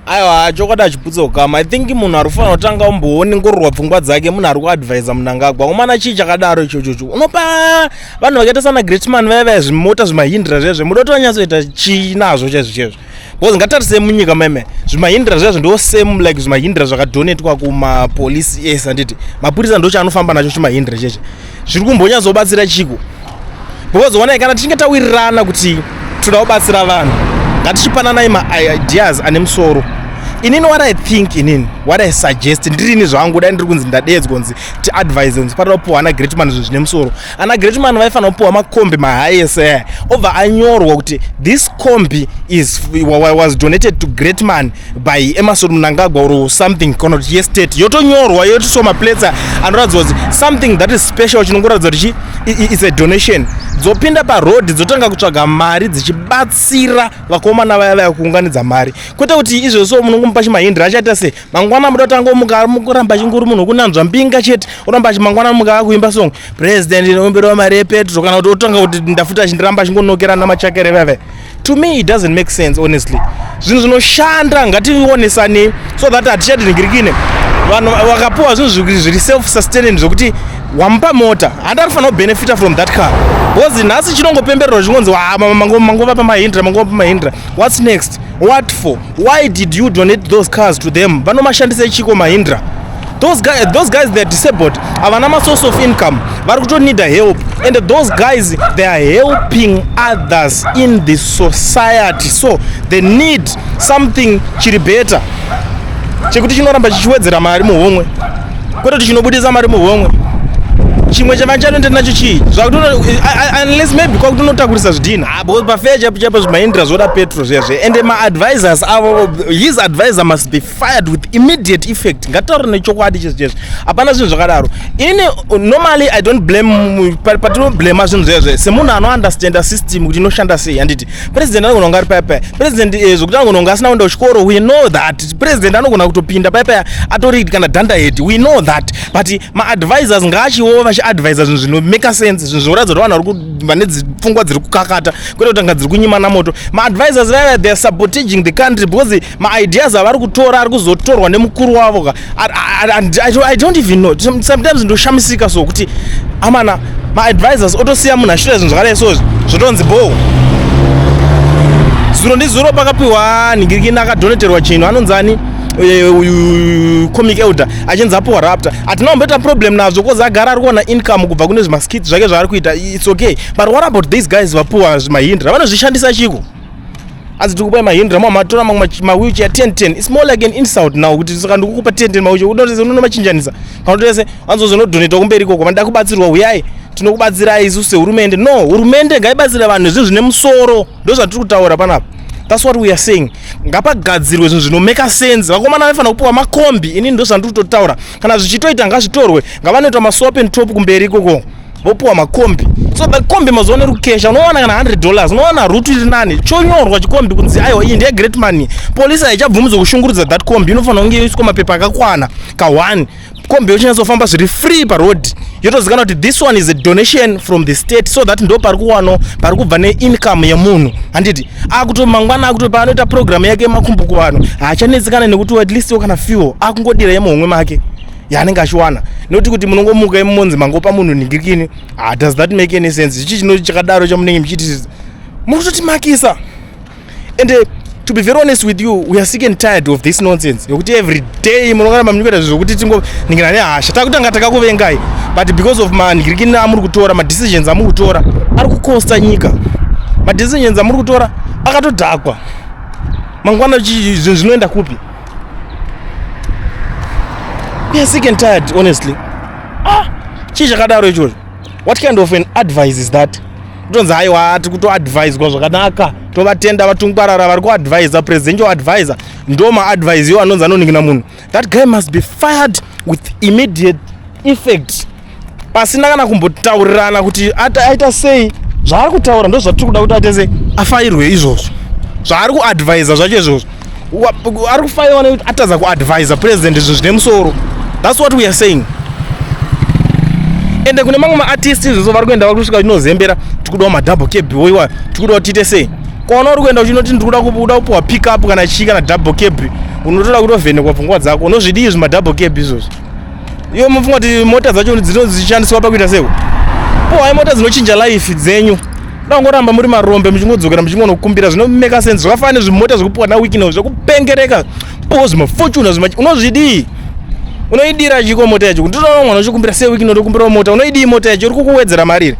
aiwa chokwadi achibvudza ukama i think munhu ari kufanira kutanga umbooningororwa pfungwa dzake munhu ari kuadvisa munangagwa umana chii chakadaro ichochocho unopa vanhu vakaita sana greatman vaya vaya zvimota zvimahindira zvezve muda kuti vanyatsoita chii nazvo chaizvo chaizvo bcause ngatarisei munyika meme zvimahindira zvezvo ndo same like zvimahindira zvakadonetwa kumapolisi ese anditi mapurisa ndochaanofamba nacho chimahindira cheche zviri kumbonyatsobatsira chiko because onai kana tichinge tawirirana kuti toda kubatsira vanhu ngatichipananai maideas ane musoro inini what i think inini what i suggest ndirini zvangu dai ndiri kunzi ndadeedzwa kunzi tiadvise kunzi panoda kupiwa ana greatman zvinhu zvine musoro ana greatman vaifanira kupiwa makombi mahighese aya obva anyorwa kuti this combi is was donated to greatman by emerson mnangagwa or something kana kuti yestate yotonyorwa yotiswa maplates anoratidza kuti something that is special chinongoratidza kuti its a donation dzopinda paroad dzotanga kutsvaga mari dzichibatsira vakomana vaya vaya kuunganidza mari kwete kuti izvo so munongomupa chimahindira achaita se mangwana muda kutanga muka mukuramba chinguri munhu kunanzva mbinga chete oramba mangwana mukava kuimba song president inoimbirwa mari yepetro kana kuti otanga kuti ndafuta chindiramba chingonokerana machakere veve to me it doesn't make sense honestly zvinhu zvinoshanda ngationesanei so that hatichadinigirikine vanhu vakapiwa zvinhu zviri self sustaining zvokuti wamupa mota handi anofanira kubenefita from that car because nhasi chinongopembererwa chingonzi ah, mangova pamahindra mangova pamahindra whats next what for why did you donate those cars to them vanomashandisa chiko mahindra those guys, those guys they're disabled havana masource of income vari kutonida help and those guys they are helping others in the society so they need something chiri better chekuti chinoramba chichiwedzera mari muhomwe kwete kuti chinobudisa mari muhomwe chimwe chavachanoenda nacho chii zvakutounless maybe kwakutonotakurisa zvidhina ah, because pafeya chaipo chaipo zvimaindira zvoda petro zviya zviya and maadvisors avo his advisor must be fired with immediate effect ngataure nechokwadi chese chese hapana zvinhu zvakadaro ini normally i don't blame patinoblema zvinhu zvezve semunhu anounderstanda system kuti inoshanda sei handiti president anogona kunga ari paya paya president eh, zvokuti anogona kunga asina kuenda kuchikoro we know that president anogona kutopinda paya paya atori kana danda hedi we know that but maadvisors ngaachiwo vachiadvisa zvinhu zvinomake sense zvinhu zvinoratidza kuti vanhu vari vane pfungwa dziri kukakata kwete kutanga dziri kunyimana moto maadvisors vaya theyare sabotaging the country because maideas avari kutora ari kuzotorwa nemukuru wavo ka i don't even know sometimes ndoshamisika so kuti amana maadvisors otosiya munhu ashira zvinhu zvakadai so zvotonzi boo zuro ndizuro pakapiwa nhingirikini akadoneterwa chinhu anonzi ani eh, uyu comic elder achinzi apiwa rapta hatina kumboita problem nazvo kozi agara ari kuona income kubva kune zvimaskit zvake zvaari kuita its okay but what about these guys vapiwa zvimahinda ravanozvishandisa chiko hanzi tikupai mahindra mwa matora mamwe mawheelchair 1010 it's more like an insult now kuti saka ndikukupa 1010 mawheelchair unotese unonomachinjanisa kana utese hanzi uzonodonetwa kumberi ikoko vanoda kubatsirwa huyai tinokubatsirai isu sehurumende no hurumende ngaibatsira vanhu zvinhu zvine musoro ndozvatiri kutaura panapa thats what we are saying ngapagadzirwe zvinhu zvinomeka sense vakomana vaifanira kupiwa makombi inini ndozvandiri kutotaura kana zvichitoita ngazvitorwe ngavanoita masopen top kumberi ikoko vopiwa makombi so makombi mazuva ano iri kukesha unowana kana 100 dollars unowana rutu iri nani chonyorwa chikombi kunzi aiwa iyi ndeyegreat money polisi haichabvumidzwa kushungurudza that kombi inofanira kunge yoiswa mapepa akakwana ka1 kombi yochinyatsofamba zviri free paroad yotozikana kuti this one is a donation from the state so that ndo pari kuwano pari kubva neincome yemunhu handiti akuto mangwana akuto paanoita programu yake yemakumbo kuvanhu haachanetsikana nekuti at least yo kana fuel akungodira yemuhomwe make yaanenge achiwana nokuti kuti munongomuka imonzi mangopa munhu ningirikini ah, does that make any sense zvichi chino chakadaro chamunenge muchiti muri kutotimakisa ende uh, to be very honest with you we are sick and tired of this nonsense yokuti every day munongaramba muchikuita zvinhu zvokuti tingoningina nehasha takutanga takakuvengai but because of manhirikini amuri kutora madecisions amuri kutora ari kukosta nyika madecisions amuri kutora akatodhakwa mangwana zvinhu zvinoenda kupi We are sick and tired, honestly. Ah, chii chakadaro ichocho? What kind of an advice is that? Kutonzi haiwa ati kutoadviswa zvakanaka. Tovatenda vatungwarara vari kuadvisa presidential advisor. Ndoma advise yo anonzi anoningina munhu. That guy must be fired with immediate effect. pasina kana kumbotaurirana kuti aita sei zvaari kutaura ndo zvatiri kuda kuti atese afairwe izvozvo zvaari kuadvisa zvacho izvozvo ari kufairwa nekuti atadza kuadvisa president izvo zvine musoro thats what weare saying ende kune mamwe maartist izvozvo vari kuenda vari kusvika chinozembera tikudawo madouble cab woiwa tikudawo tiite sei kwaona uri kuenda uchinoti ndikuda kuda kupiwa pick up kana chii kana double cab unotoda kutovhenekwa pfungwa dzako unozvidii zvimadouble cab izvozvo Iwe mufunga kuti mota dzacho dzinoshandiswa pakuita sei? Po hai mota dzinochinja life dzenyu. Dangoramba muri marombe muchingodzokera muchingonokumbira zvinomeka sense zvakafanana nezvimota zvekupuwa na weekend zvekupengereka. Po zvimafortune zvima unozvidii? Unoidira chiko mota yacho. Ndinoona mwana uchikumbira sei weekend ndokumbira mota. Unoidii mota yacho? Uri kukuwedzera mari.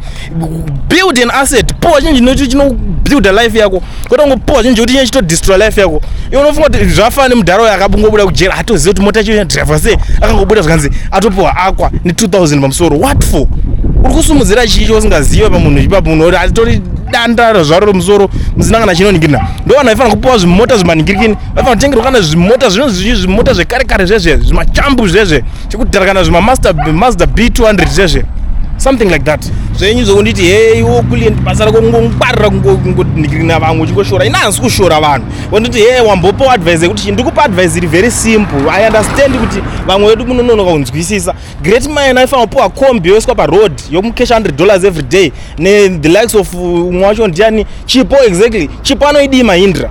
build an asset powa chinhu chinocho chinobuilda life yako kwete kungopowa chinhu chokuti chinenge chitodestroy life yako iwe unofunga kuti zvafana nemudhara uyo akabungobuda kujera atoziva kuti mota chiyo driver sei akangobuda zvikanzi atopiwa akwa ne2000 pamusoro what for uri kusumudzira chii chausingazive pamunhu ipapo munhu oti atori danda zvaro remusoro muzinangana chinoningirina ndo vanhu vaifanira kupiwa zvimota zvimaningirikini vaifanira kutengerwa kana zvimota zvinozvimota zvekare kare zvezve zvimachambu zvezve chekudharakana zvima master master b 200 zvezve something like that zvenyu zvekunditi hei wokulient basa rako kungongwarira kungonhikirina vamwe uchingoshora ini hansi kushora vanhu wonditi hei wambopawo advice yekuti ndikupa advice iri very simple i understand kuti vamwe vedu munononoka kunzwisisa great mine aifanira kupiwa combi yoiswa paroad yomucash 100 dollars every day ne the likes of umwe uh, wacho ndiani chipo exactly chipo anoidii mahindra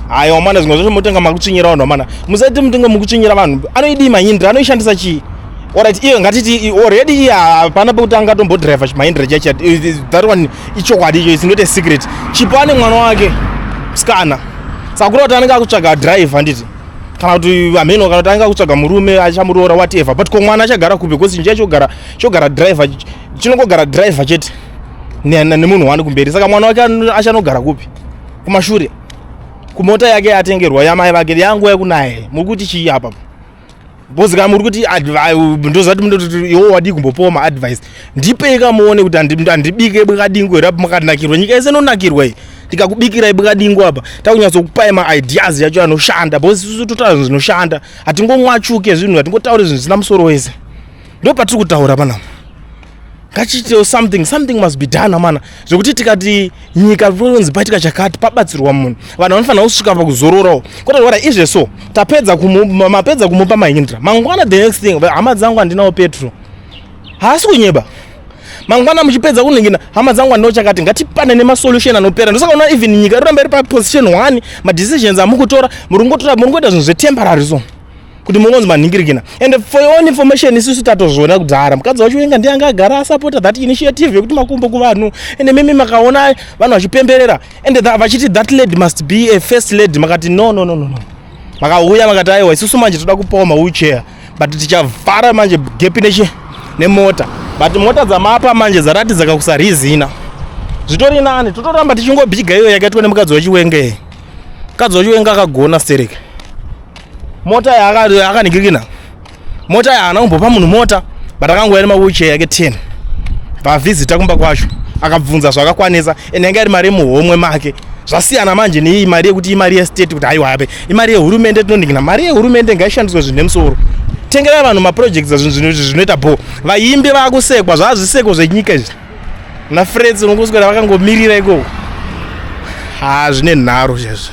haya wamana zvimwe zvacho motenga makutsvinyira vanhu wamana musaite mutenga mukutsvinyira vanhu anoidii mahindra anoishandisa chii orit iyo ngatiti already iye hapana pekuti angatombodrive mahindra chacho that one ichokwadi icho it's not a secret chipo ane mwana wake msikana sakura kuti anenge akutsvaga drive handiti kana kuti hameno kana kuti anenge akutsvaga murume achamuroora whatever but ko mwana achagara kupi because nje chogara chogara driver chinongogara driver chete nemunhu wani kumberi saka mwana wake achanogara kupi kumashure kumota yake yatengerwa yamai vake yangu yekunaye muri kuti chii apa because ka muri kuti ndozati mundoti iwo wadii kumbopiwa maadvice ndipei kamuone kuti handibike bwakadingo here apa makanakirwa nyika yese inonakirwa iyi ndikakubikirai bwakadingo apa takunyatsokupai maideas yacho anoshanda because isusu totaura zvinhu zvinoshanda hatingomwachuke zvinhu hatingotaure zvinhu zvisina musoro wese ndo patiri kutaura pana ngachiitewo something something must be done amana zvekuti tikati nyika ronzi paitika chakati pabatsirwa munhu vanhu vanofanira kusvika pakuzororawo kwete zvara izve so tapedza mapedza kumupa mahindra mangwana the next thing hama dzangu handinawo petro haasi kunyeba mangwana muchipedza kuningina hama dzangu andino chakati ngatipane nemasolution anopera ndosaka unoona even nyika iroramba iri paposition one madecisions amukutora muri kungotora muri kungoita zvinhu zvetemporary so kuti mungonzi manhingirikina and for your own information isusu tatozviona kudhara mukadzi wacho wenga ndiye anga agara asupporta that initiative yekuti makumbo kuvanhu and mimi makaona vanhu vachipemberera and vachiti that lady must be a first lady makati no no no no no makauya makati aiwa isusu manje toda kupawa mawheelchair but tichavhara manje gepi nechi nemota but mota dzamapa manje dzaratidza kakusarizina zvitori nani totoramba tichingobhiga iyo yakaitwa nemukadzi wachiwengee mukadzi wachiwenge akagona stereke mota yakanigirikina mota yaana kumbopa munhu mota but akangouya nemawheelchair yake 10 pavhizita kumba kwacho akabvunza zvakakwanisa and yanga iri mari yemuhomwe make zvasiyana manje neiyi mari yekuti imari yestate kuti haiwa hape imari yehurumende tinoningina mari yehurumende ngaishandiswe zvinhu nemusoro tengerai vanhu maprojects azvinhu zvinoita bho vaimbi vakusekwa zvazviseko zvenyika izvi nafreds unokuswera vakangomirira ikoko ha zvine nharo chezvo